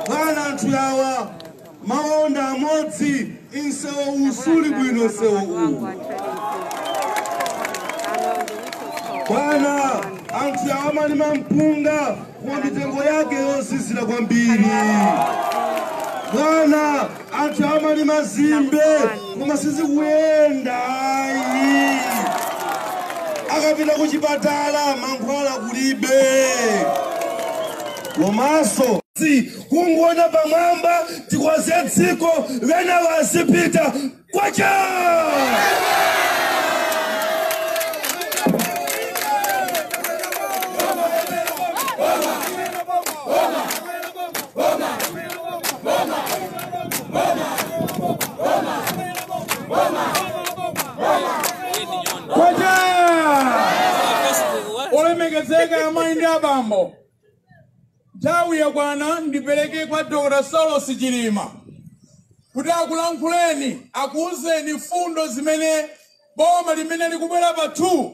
bwana anthu yawa mawu ndi amodzi nsewu suli bwino nsewu uwu bwana anthu yawa amalima mpunga koma mitengo yake yozizira kwambiri bwana anthu amalima zimbe koma sizikuyenda ayi akapita ku chipatala mankhwala kulibe komanso si kungoona pamwamba tikonze dziko wena wazipita kwacha Kwacha! Olemekezeka amayi ndi abambo. Nthawi yakwana ndipereke kwa Dr. Saulos Chilima kuti akulankhuleni akuuzeni mfundo zimene boma limene likubwera pa 2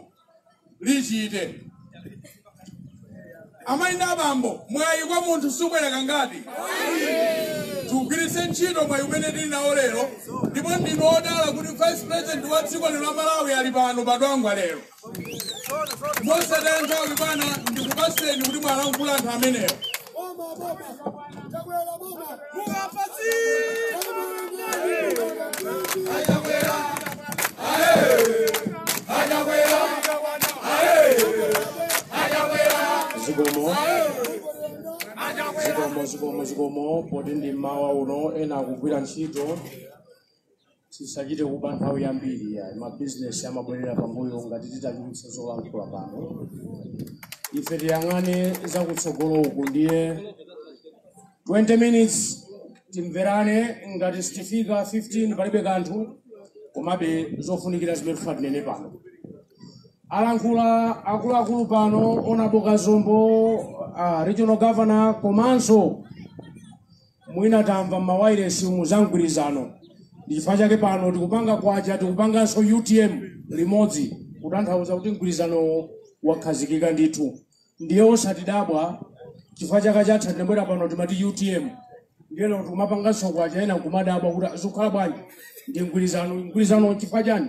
lichite amayi ndi abambo mwayi kwa munthu subwera kangati tigwiritse ntchito mwayi umene tili nawo lero ndipo ndinu odala kuti vice president wa dziko lino la malawi ali pano pa Dwangwa lero mosataya nthawi bwana ndikupaseni kuti muwalankhule anthu amenewo zikomo zikomo zikomo zikomo poti ndi mmawa uno ena akugwira ntchito tisachite kuba nthawi yambiri ya mabizinesi amabwerera pambuyo ngati titachulutsa zolankhula pano ife tiyang'ane zakutsogolo uku ndiye 20 minutes timverane ngati sitifika 15 palibe kanthu komabe zofunikira zimene tifuna tinene pano alankhula akuluakulu pano honourable Kazombo uh, regional governor komanso mwina tamva m'mawairesi umu za mgwirizano ndi chifukwa chake pano tikupanga kwacha tikupanganso utm limodzi kutanthauza kuti mgwirizanowo wakhazikika ndithu ndiye osatidabwa chifukwa chaka chatha tinabwera pano timati utm ndiye lero tikumapanganso kwacha ena nkumadabwa kuti zikukhala bwanji ndi mgwirizano mgwirizano chifukwa chani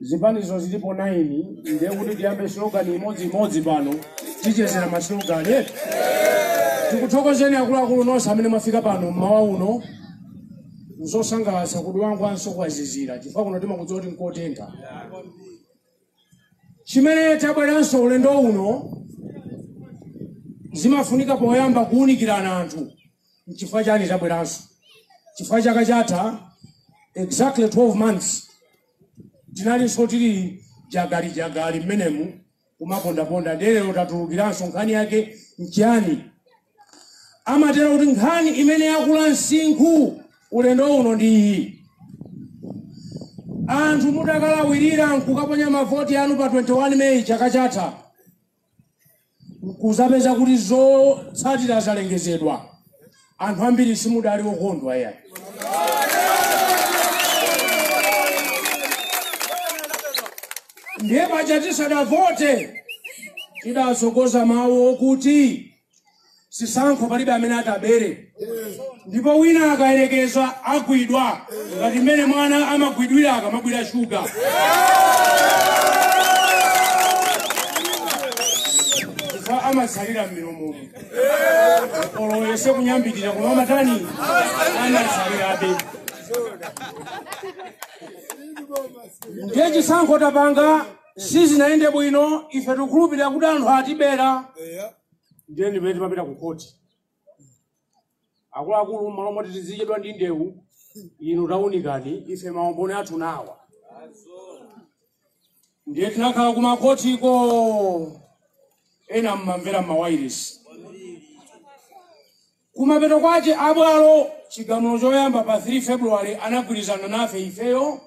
zipanizo zilipo 9 ndiye kuti tiyambe slogan imodzi imodzi pano tichezera ma slogan eti tikuthokozeni akuluakulu nonse amene mwafika pano mmawa uno nzosangalatsa kuti angwanso kwazizira chifukwa kuno timakudziwa kuti nkotentha chimene tabweranso ulendo uno zimafunika poyamba kuwunikirana anthu nchifukwa chani tabweranso chifukwa chaka chatha exactly 12 months Tinalinso tili jagali jagali mmenemu kumapondaponda ndiye lero tatulukiranso nkhani yake nchiyani? Amatero kuti nkhani imene yakula msinkhu ulendo uno ndi iyi. Anthu mudakalawirira nkukaponya mavoti anu pa 21 Meyi chaka chatha, nkuzapeza kuti zotsatira zalengezedwa anthu ambiri simudali okondwa eya ndiye paja tisadavote tidatsogoza mawu okuti chisankho palibe amene atabere ndipo wina akayerekeza agwidwa ngati mmene mwana amagwidwira akamabwira shuga chifukwa amatsalira mmilomomo olo ayese kunyambita koma amatani amatsalirabe ndiye chisankho tapanga sizinayende bwino ife tikukhulupirira kuti anthu atibera eya ndiye ndi m'mene timapita ku khoti akuluakulu mmalo moti tizichedwa ndi ndewu inu taunikani ife maumboni athu nawa ndiye tinakhala ku makhotiko ena mmamvera mmawairesi Kumapeto kwache a bwalo chigamulo choyamba pa 3 February anagwirizana nafe ifeyo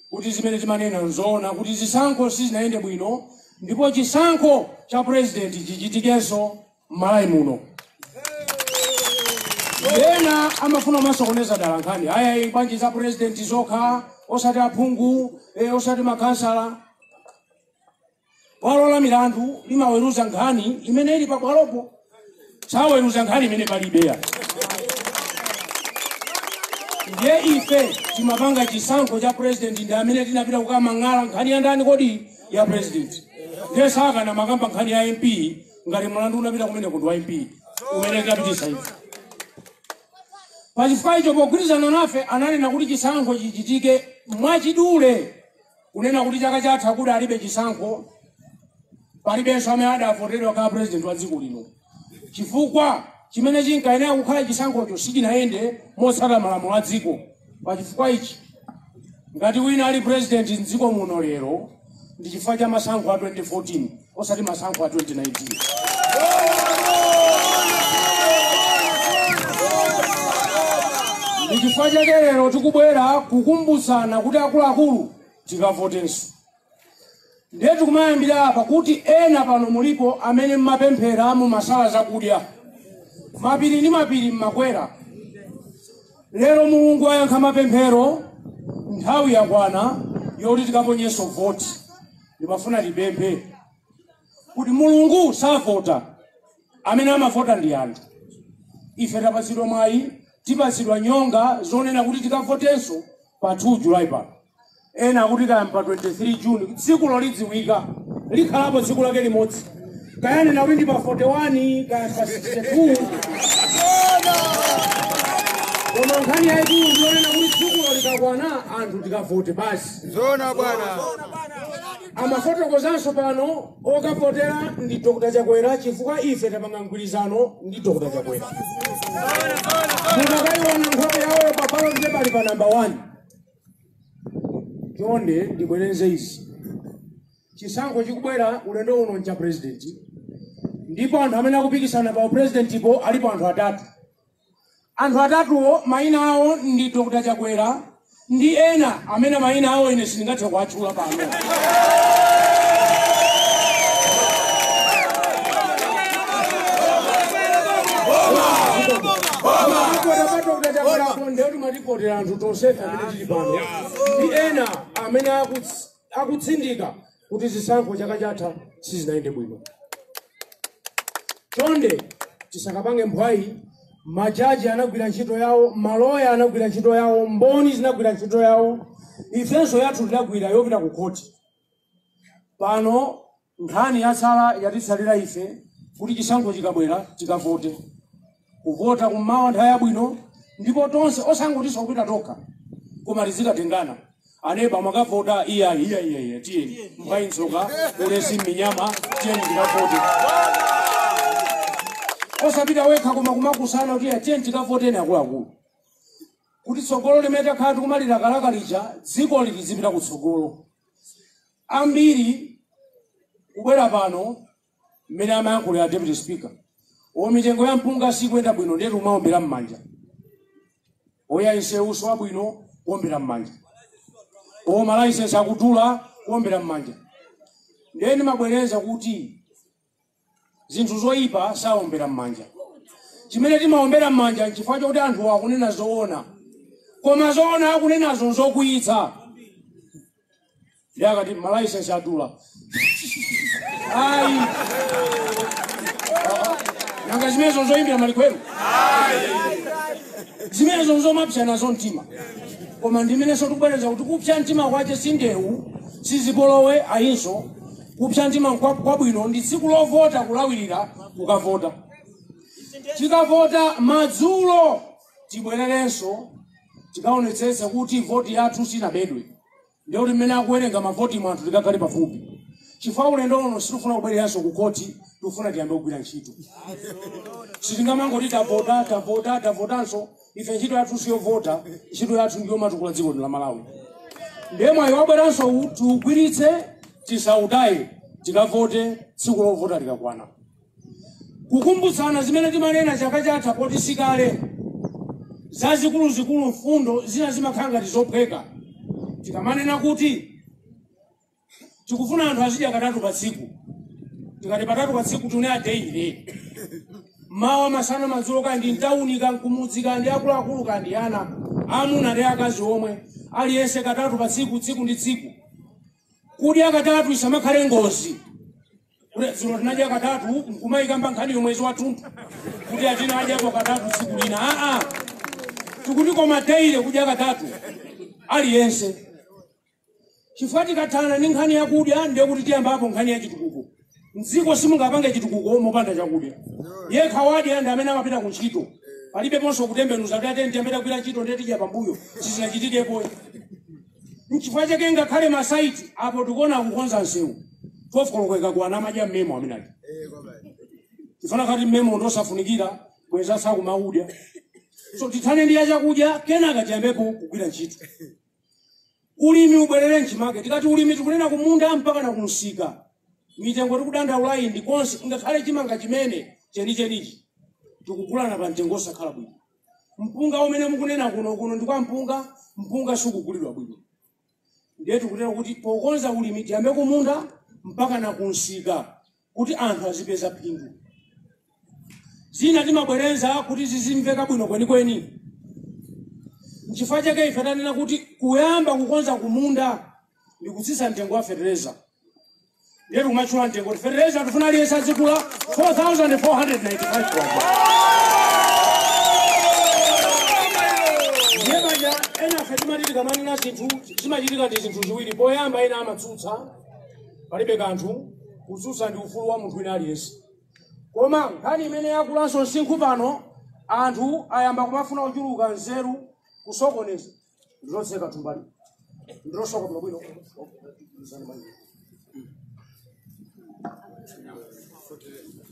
kuti zimene timanena nzoona kuti zisankho sizinayende bwino ndipo chisankho cha president chichitikenso m'Malawi muno. Ena amafuna kumasokoneza dala nkhani aya iyi bwanji za president zokha osati aphungu eh, osati makhansala Bwalo la milandu limaweruza nkhani imene ili pabwalopo, saweruza nkhani imene palibe eya. Ndiye ife timapanga chisankho cha president ndi amene tinapita kukamang'ala nkhani ya ndani kodi ya president. Ndiye sakanamakamba nkhani ya MP ngati mlandu unapita kumeneko ndi wa MP umene tapititsa ife. Pachifukwa icho pogwirizana nafe ananena kuti chisankho chichitike mwachidule Kunena kuti chaka chatha kudalibe chisankho, palibenso amene adavotedwa kukhala president wa dziko lino, chifukwa chimene chinkayenera kukhala chisankhocho sichinayende motsata malamulo a dziko. Pa chifukwa ichi, ngati wina ali president m'dziko muno lero ndi chifukwa cha masankho a 2014. osati masankho a 2019 ndi chifukwa chake lero tikubwera kukumbutsana kuti akuluakulu tikavotenso ndiye tikumayambira apa kuti ena pano mulipo amene mmapemphera mumasala zakudya mapiri ndi mapiri mmakwera lero mulungu wayankha mapemphero nthawi yakwana yoti tikaponyenso voti ndimafuna tipemphe kuti mulungu savota amene amavota ndi anthu ife tapatsidwa mwayi tipatsidwa nyonga zonena kuti tikavotenso pa 2 julayi pano ena akuti kaya pa 23 juni tsikulo lidziwika likhalapo tsiku lake limodzi kayani nawe ndi pa 41 kaya pa 62 koma nkhani yaikulu ndiyonena kuti tsikulo likakwana anthu tikavote basi Zona bwana. amafotokozanso pano okavotera ndi dr chakwera chifukwa ife tapanga mgwirizano ndi dr chakwera mukakaiona nkhope yawo pa balotipo ali pa namba 1 chonde ndibwereze izi chisankho chikubwera ulendo uno ncha president ndipo anthu amene akupikisana pa upresidentipo alipo anthu atatu anthu atatuwo mayina awo ndi dr chakwera ndi ena amene mayina awo ine sindingathe kuwatchula pano a dr chakwera nde oti tivotera anthu tonsefe amene tili pano ndi ena amene akuts- akutsindika kuti zisankho chaka chatha sizinayende bwino. Chonde tisakapange mphwayi, majaji anagwira ntchito yawo, maloya anagwira ntchito yawo, mboni zinagwira ntchito yawo, ifenso yathu tinagwira yopita ku khoti. Pano Nkhani yatsala yatitsalira ife kuti chisankho chikabwera tikavote. Kuvota kummawa nthawi yabwino ndipo tonse osangotinso kupita tokha koma tizikatengana. Aneba mwakavota? Iyayi tiyeni mphwayi n'tsoka ulesi m'minyama tiyeni tikavote. Osapita wekha koma kumakusana kuti "Ya, tiyeni tikavoteni akuluakulu kuti tsogolo limene takhala tikumalilakalaka lija dzikoli lizipita kutsogolo. Ambiri kubwera pano mmene amayankhulira deputy speaker o mitengo ya mpunga sikuyenda bwino ndiye tikumaombera mmanja oya nsewu si wabwino kuombera mmanja o malaisensi akudula kuombera mmanja ndiye ndimabwereza kuti zinthu zoyipa sawombera m'manja chimene timawombera m'manja nchifukwa chokuti anthu akunena zoona koma zoona akunenazo nzokwiyitsa ndiye akati malaisensi adula ayi nanga zimenezo nzoyimbira malikwero zimenezo nzomapsa nazo mtima koma ndimenenso tikubwereza kuti kupsa mtima kwake sindewu sizipolowe ayinso kupsa mtima nkwa- kwabwino ndi tsiku lovota kulawirira kukavota tikavota madzulo tibwererenso tikaonetsetse kuti voti yathu sinabedwe ndiye kuti mmene akuwerenga mavoti anthu tikakhale pafupi chifukwa ulendo uno sitifuna kuberedwanso ku khoti tikufuna tiyambe kugwira ntchito sitingamangoti tavota tavota tavotanso ife ntchito yathu siyovota ntchito yathu ndiyomatukula dziko lino la malawi ndiye mwayi wabweranso uwu tiugwiritse tisautaye tikavote tsiku lovota likakwana kukumbutsana zimene timanena chaka chatha poti sikale zazikuluzikulu mfundo zina zimakhala ngati zophweka tikamanena kuti tikufuna anthu azidya katatu pa tsiku tikati katatu pa tsiku tunena deile mawa masana madzulo kandi mtauni kandi kumudzi kandi akuluakulu kandi ana amuna ndi akazi omwe aliyense katatu pa tsiku tsiku ndi tsiku kudya katatu isamakhale ngozi kuti dzulo tinadya katatu nkumayikamba nkhani yomwezi wathunthu kuti ati tinadyapo katatu tsiku lina aa tikuti koma deile kudya katatu aliyense chifukwa tikathana ndi nkhani yakudya ndiye kuti tiyambapo nkhani ya chitukuko mdziko simungapange chitukuko mopanda chakudya yekha wadya ndi amene amapita ku ntchito palibeponso kutembenuza kuti ati ndiyambe ndagwira ntchito ndiye ndidya pambuyo sizinachitikepo nchifukwa chake ngakhale mmasaiti apo tikuona akukonza msewu 12 koloko ikakwana amadya mmemo amene uja chifukwa ukanati mmemo ndosafunikira bweza sakumaudya so tithane ndi ya chakudya kenaka tiyambepo kugwira ntchito Ulimi ubwerere mchimake. Tikati ulimi tikunena kumunda mpakana kumsika. Mitengo tikudandaulayi ndi konse ngakhale chimanga chimene chenichenichi tikugulana pa mtengo osakhala bwino. Mpunga umene mukunena kuno kuno ndi kwa mpunga, mpunga sukugulidwa bwino. Ndiye tikutero kuti pokonza ulimi tiyambe kumunda mpaka na kumsika. kuti anthu azipeza phindu. Zina timabwereza kuti zizimveka bwino kwenikweni. N'chifukwa chake ife tanena kuti kuyamba kukonza kumunda ndi kutsitsa mtengo wa fetereza. Ndiye tikumatchula mtengo kuti fetereza tifuna aliyense azigula 4,495 kwacha. Ndiye anthu ena ife timati tikamanena zinthu zimachitika ndi zinthu ziwiri. Poyamba ena amatsutsa palibe kanthu kutsutsa ndi ufulu wa munthu wina aliyense koma nkhani imene yakulanso msinkhu pano anthu ayamba kumafuna kuchuluka nzeru kusokoneza ndilotseka thumbali ndilosoka bwinobwino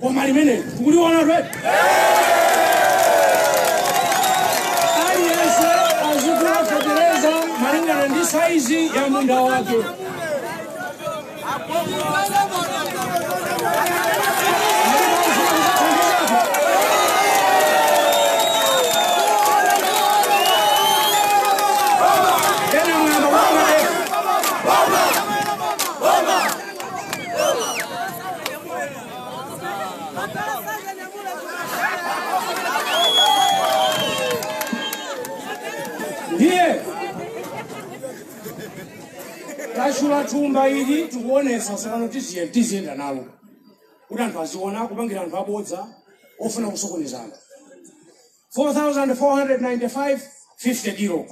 koma limene tikuliona apa aliyense azigula fetereza malingana ndi saizi ya munda wake ndiye tatchula thumba ili tikuonetsa tsopano tiziyenda nalo kuti anthu aziona kupangira anthu abodza ofuna kusokoneza anthu 4495 50 kilo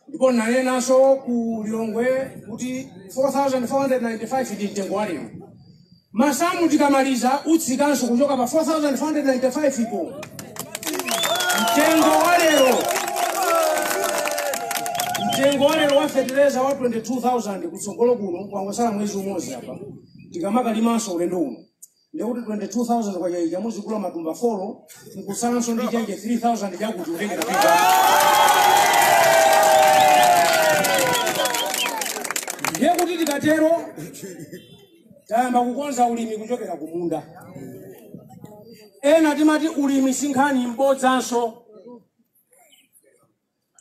ndipo ndinanenanso ku lilongwe kuti 4495 ndi mtengo wa lero masamu tikamaliza utsikanso kuchoka pa 4495 ipo mtengo wa lero mtengo wa lero wa fetereza wa 22000 kutsogolo kuno kwangosala mwezi umodzi apa tikamalimanso ulendo uno ndiye kuti 22000 kwacha ija muzigula matumba folo nkutsalanso ndi chenje 3000 chakuti mutenge kupita ndiye kuti tikatero tayamba kukonza ulimi kuchokera ku munda ena timati ulimi sinkhani mbodzanso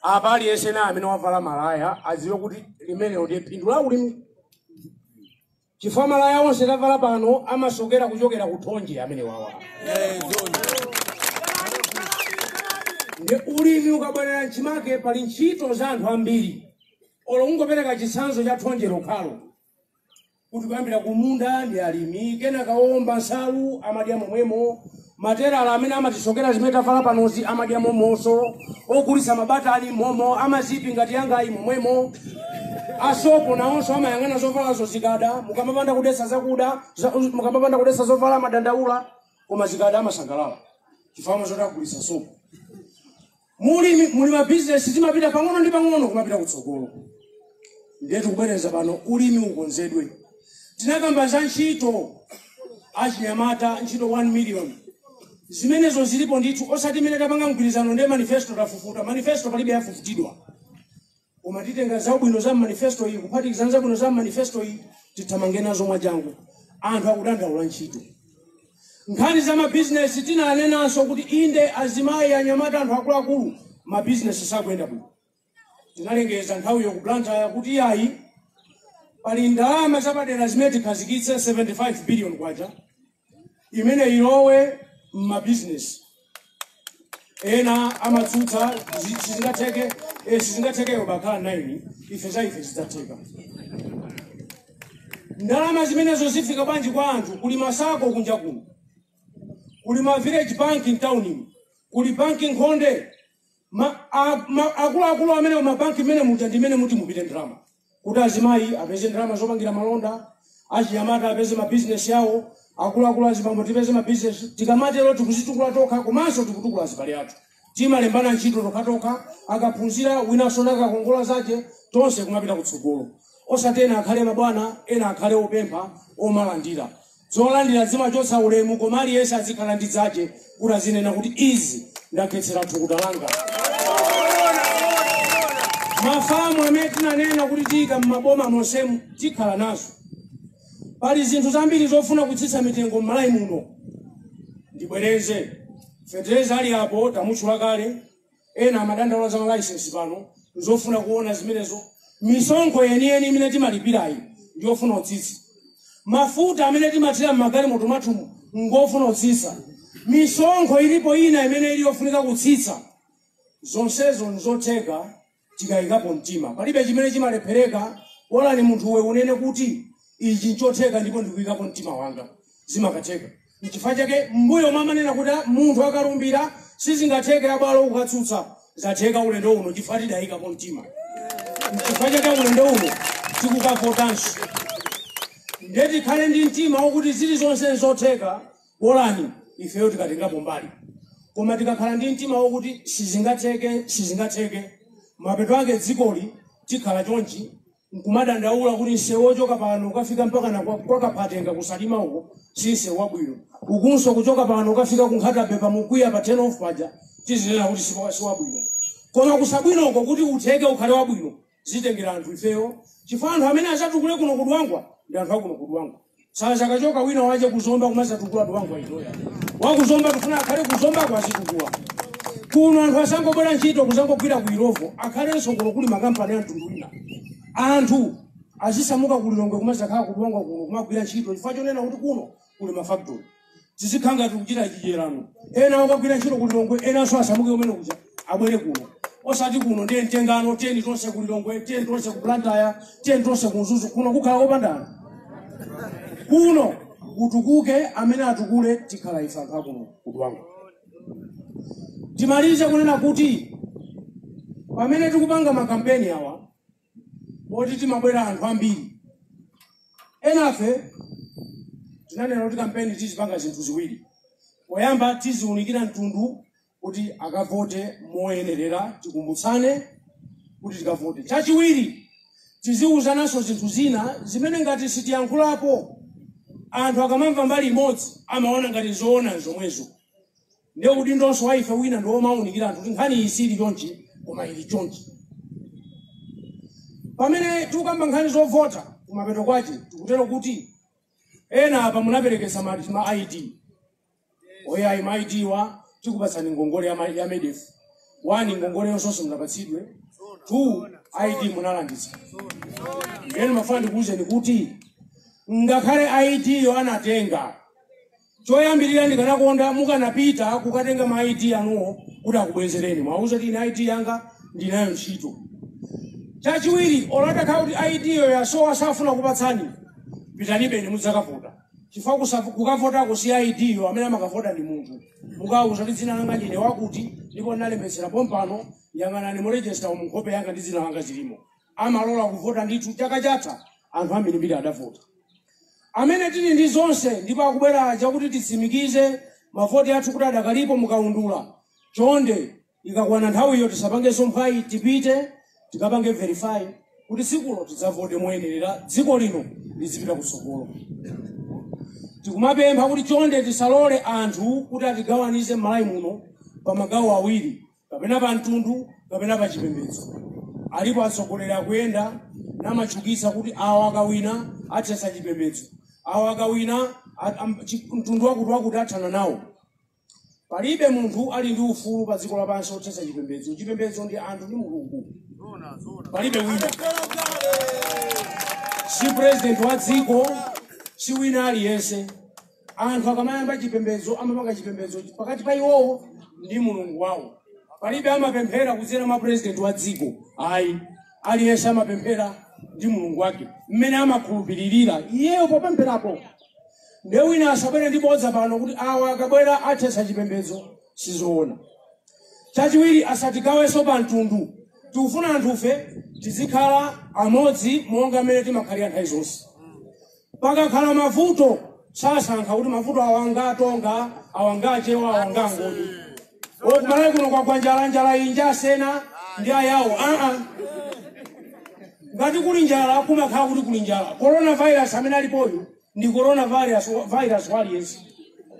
apa aliyense naye amene wavala malaya adziwe kuti limenelo ndiye phindu la ulimi chifukwa malaya onse tavala pano amasokera kuchokera ku thonje amenewa awa ndi ulimi ukabwerera mchimake pali ntchito za anthu ambiri olo ungopereka chitsanzo cha thonje lokhalo kuti kuyambira kumunda ndi alimi kenaka owomba nsalu amadya momwemo materala amene amatisokera zimene tavala panozi amadya momonso ogulitsa mabata ali momo amazipi ngati iyangayi momwemo asopo nawonso amayang'ana zovala zozikada mukamapanda kudetsa zakuda za- mukamapanda kudetsa zovala amadandaula koma zikada amasangalala chifukwa amadziwa zoti agulitsa sopo Mu ulimi muli ma bizinesi zimapita pang'ono ndi pang'ono kumapita kutsogolo. Ndiye tukubwereza pano ulimi ukonzedwe. Tinakamba za ntchito achinyamata ntchito 1 million. Zimenezo zilipo ndithu osati imene tapanga mgwirizano ndiye manifesto tafufuta. Manifesto palibe yafufutidwa. koma titenga zabwino za manifesto iyi kuphatikizana zabwino za manifesto iyi tithamange nazo mwachangu anthu akudandaula ntchito nkhani za mabizinesi tinanenanso kuti inde azimayi anyamata anthu akuluakulu mabizinesi sakuyenda bwino tinalengeza nthawiyo ku blantyre kuti yayi pali ndalama zapadera zimene tikhazikitse 75 billion kwacha imene ilowe m'mabizinesi ena amatsutsa zi- sizingatheke eh, sizingathekeyo bakhalani ife za ife zizatheka ndalama zimenezo zifika bwanji kwa anthu kuli masako kunja kuno kuli ma village bank m'tauni kuli banki nkhonde ma- a- ma- akuluakulu amene mabanki mmene muja ndi imene muti mupite ndalama kuti azimayi apeze ndalama zopangira malonda achinyamata apeze mabizinesi yawo akuluakulu azibambo tipeze mabizinesi tikamatero tikudzitukula tokha komanso tikutukula azibale athu timalembana ntchito tokhatokha akaphunzira winanso nakakongola zake tonse kumapita kutsogolo osati ena akhale mabwana ena akhale opempha omalandira Zolandira zimachotsa ulemu koma aliyense azikhala ndi zache kuti azinena kuti izi ndakhetsera thukuta langa. Ma farm amene tinanena kuti tiyika m'maboma monsemu tikhala nazo. Pali zinthu zambiri zofuna kutsitsa mitengo m'Malawi muno. Ndibwereze. Fetereza ali apo tamutchula kale. Ena amadandaula za ma licence pano nzofuna kuona zimenezo. Misonkho yeniyeni imene timalipirayi ndi yofuna utsitsa. Mafuta amene timathira m'magalimoto mwathumu ngofuna utsitsa. Misonkho ilipo ina imene ili yofunika kutsitsa. Zonsezo nzotheka tikayikapo mtima. Palibe chimene chimalephereka, bolani munthuwe unene kuti ichi nchotheka ndipo ndikuyikapo mtima wanga, zimakatheka. Nchifukwa chake m'mbuyomo amanena kuti a, munthu akalumbira sizingatheke abwalo kukatsutsa. Zatheka ulendo uno chifukwa tidayikapo mtima. Nchifukwa chake ulendo uno tikukavotanso. Ndiye tikhale ndi mtima wokuti zilizonse nzotheka bolani ifeyo tikatengapo mbali. Koma tikakhala ndi mtima wokuti sizingatheke, sizingatheke, mapeto ake dzikoli tikhala chonchi nkumadandaula kuti msewu wochoka pano ukafika mpaka kwa Kaphatenga kusalima uko si msewu wabwino ukunso kuchoka pano ukafika ku Nkhata Bay pamukwiya pa turn off paja tizinena kuti si wabwino koma kusabwino uko kuti utheke ukhale wabwino zitengera anthu ifeyo chifukwa anthu amene azatukule kuno kudwangwa ndi anthu akuno kudwangwa Sazakachoka wina wache kuzomba kumazatukula Dwangwa itayo. Wakuzomba tufuna akhale kuzomba kwao azitukula. Kuno anthu asangobwera ntchito kuzangogwira ku Illovo akhalenso kuno kuli makampani amtundu wina. Anthu azisamuka kulilongwe kumazakhala kudwangwa kuno kumagwira ntchito chifukwa chonena kuti kuno kuli mafactory. tizikhala ngati tikuchita chidyerano ena akagwira ntchito ku lilongwe enanso asamuke kumene kuja abwere kuno osati kuno ndiye mtengano tiyeni tonse ku lilongwe tiyeni tonse ku blantyre tiyeni tonse ku mzuzu kuno kukhala kopandana kuno kutukuke amene atukule tikhala ife anthu akuno kudwangwa timalize kunena kuti pamene tikupanga makampeni awa oti timabwera anthu ambiri enafe tinanena kuti kampeni tizipanga zinthu ziwiri poyamba tiziunikira mtundu kuti akavote moyenerera tikumbutsane kuti tikavote chachiwiri tiziwuzananso zinthu zina zimene ngati sitiyankhulapo anthu akamamva mbali imodzi amaona ngati zoona zomwezo Ndiye udindonso wa ife wina ndi womawunikira anthu kuti nkhani iyi sili chonchi koma ili chonchi. Pamene tikukamba nkhani zovota kumapeto kwache tikutero kuti ena apa munaperekesa ma ID oyayi ma ID wo tikupatsani ngongole ya, ma- ya MEDEF one ngongoleyonso simunapatsidwe two ID munalanditsa ndiye ndimafuna ndikuwuzeni kuti ngakhale ID yo anatenga Choyambirira ndikanakonda mukanapita kukatenga ma ID anuwo kuti akubwezereni. Muwauza kuti ine ID yanga ndinayo ntchito. Chachiwiri, olo atakhala kuti ID yo yasowa safuna kukupatsani, pitanibeni mudzakavota. Chifukwa kusa- kukavotako si ID yo amene amakavota ndi munthu. Mukawauza kuti dzina langa ndine wakuti ndipo ndinalembetsera pompano yang'anani mu register umu nkhope yanga ndi dzina langa zilimo. amalola kuvota ndithu chaka chatha anthu ambirimbiri adavota amene tili ndi zonse ndipo akubwera aja kuti titsimikize mavoti athu kuti adakalipo mukaundula chonde ikakwana nthawiyo tisapangenso mphwayi tipite tikapange verify kuti tsikulo tidzavote moyenerera dziko lino lizipita kutsogolo tikumapempha kuti chonde tisalole anthu kuti atigawanize m'malawi muno pa magawo awiri kapena pa mtundu kapena pa chipembedzo alipo atsogoleri akuyenda namachukitsa kuti awa akawina athesa chipembedzo awa akawina a- am- chi- mtundu wakuti wakuti athana nawo palibe munthu ali ndi ufulu pa dziko lapansi othesa chipembedzo chipembedzo ndi anthu ndi mulungu palibe wina si president wa dziko si wina aliyense Anthu akamayamba chipembedzo amapanga chipembedzo pakati pa iwowo ndi mulungu wawo. Palibe amapemphera kudzera mwa president wa dziko ayi, aliyense amapemphera ndi mulungu wake mmene amakhulupiririra iyeyo popempherapo. Nde wina asabwere ndi bodza pano kuti awa akabwera athetsa chipembedzo, sizoona. Chachiwiri asatigawenso pa mtundu, tikufuna anthufe tizikhala amodzi monga mmene timakhalira nthawi zonse. Pakakhala mavuto sasankha kuti mavuto awa nga aTonga, awa nga aChewa, awa nga aNgoni. Kumalawi kuno kwagwa njala, njala iyi nja aSena ndi ayawo. Aa, ngati kuli njala kumakhala kuti kuli njala. Coronavirus amene alipoyu ndi coronavirus wa- virus wa aliyense.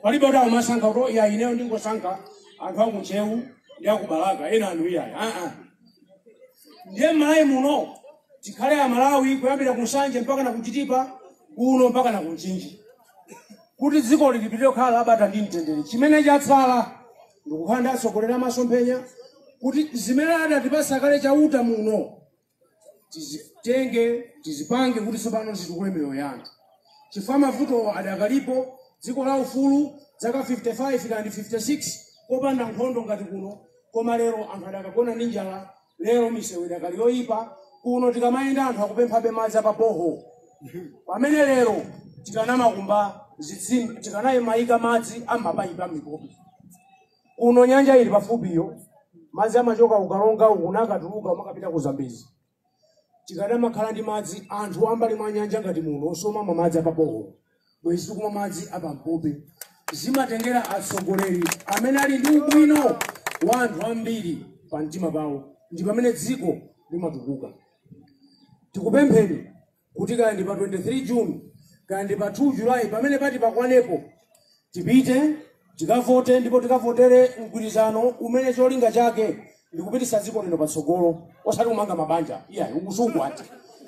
Palibe kuti amasankha kuti ya ineyo ndingosankha anthu aku Ntcheu ndi aku Balaka ena anu iyayi. Aa, ndiye m'malawi muno tikhale amalawi kuyambira ku nsanje mpaka na kuchitipa kuno mpaka na kumchinji kuti dziko lipitilire kukhala labata ndi mtendere chimene chatsala ndikukhala ndi atsogoleri a masomphenya kuti zimene adatipasa kale chauta muno tizitenge tizipange kuti tsopano zitukule miyoyo yanu chifukwa mavutowo adakalipo dziko la ufulu zaka 55 kapena 56 kopanda nkhondo ngati kuno koma lero anthu adakagona ndi njala lero misewu idakali yoyipa kuno tikamayenda anthu akupemphabe madzi apaboho pamene lero tikanamakumba zitsime tikanamayika madzi a m'mapayipi a m'mipopi kuno nyanja ili pafupiyo madzi amachoka ku karonga uku nakatuluka kumakapita ku zambezi Tikadamakhala ndi madzi anthu ambali mwa nyanja ngati muno osamamwa madzi apa borehole bwezi tikumwa madzi apa mpope. Zimatengera atsogoleri amene ali ndi ubwino wa anthu ambiri pa mtima pawo ndi pamene dziko limatukuka. Tikupempheni kuti kaya ndi pa 23 june kaya ndi pa 2 julayi pamene pati pakwanepo tipite tikavote ndipo tikavotere mgwirizano umene cholinga chake ndikupitisa dziko lino patsogolo osati kumanga mabanja iyayi ukusungu ati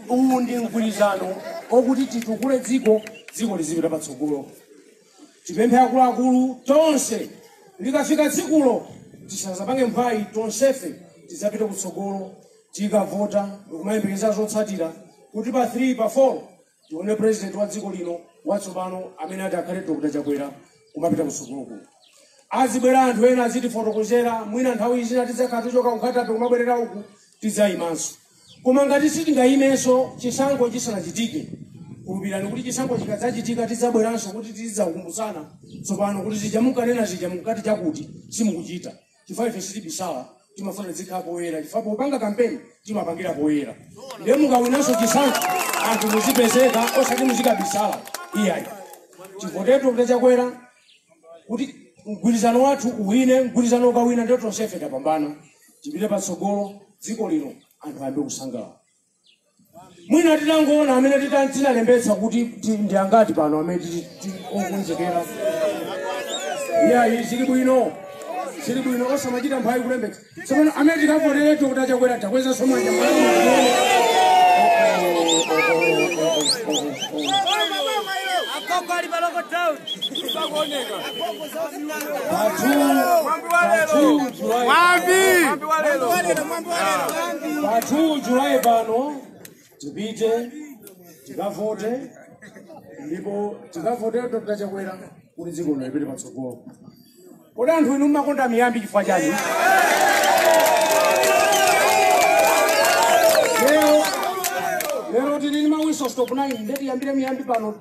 uwu ndi mgwirizano okuti titukule dziko dziko lizipita patsogolo tipemphe akuluakulu tonse likafika tsikulo tisazapange mphwayi tonsefe tizapite kutsogolo tikavota ndikumayembekezera zotsatira kuti pa 3 pa 4 tione president wa dziko lino watsopano amene ati akhale dr chakwera kumapita kutsogoloku azibwera anthu ena azitifotokozera mwina nthawi zina tidzakhala tichoka ku Nkhata Bay kumabwerera uku tidzayimanso koma ngati sitingayimenso chisankho chisanachitike kulupirani kuti chisankho chikadzachitika tidzabweranso kuti tizidzakumbutsana tsopano kuti zija munkanena zija munkati chakuti simukuchita chifukwa ife sitibisala timafuna zizikhala poyera chifukwa popanga kampeni timapangira poyera ndiye mukawinanso chisankho anthu muzipezeka osati muzikabisala iyayi tivotere dr chakwera kuti mgwirizano wathu uwine mgwirizano ukawina ndiye tonsefe tapambana tipite patsogolo dziko lino anthu ayambe kusangalala mwina titangoona amene tita- tinalembetsa kuti ti- ndi angati pano amene tili- tili okonzekera iyayi zili bwino zili bwino osamachita mphwayi kulembetsa tsopano amene tikavotere dr chakwera takwezanso manja pa 2 julayi pano tipite tikavote ndipo tikavotere dr chakwera kuti dziko lino lipite patsogolo kodi anthu inu mmakonda miyambi chifukwa chani lero lero tili ndi ma whistle stop 9 nde tiyambire miyambi pano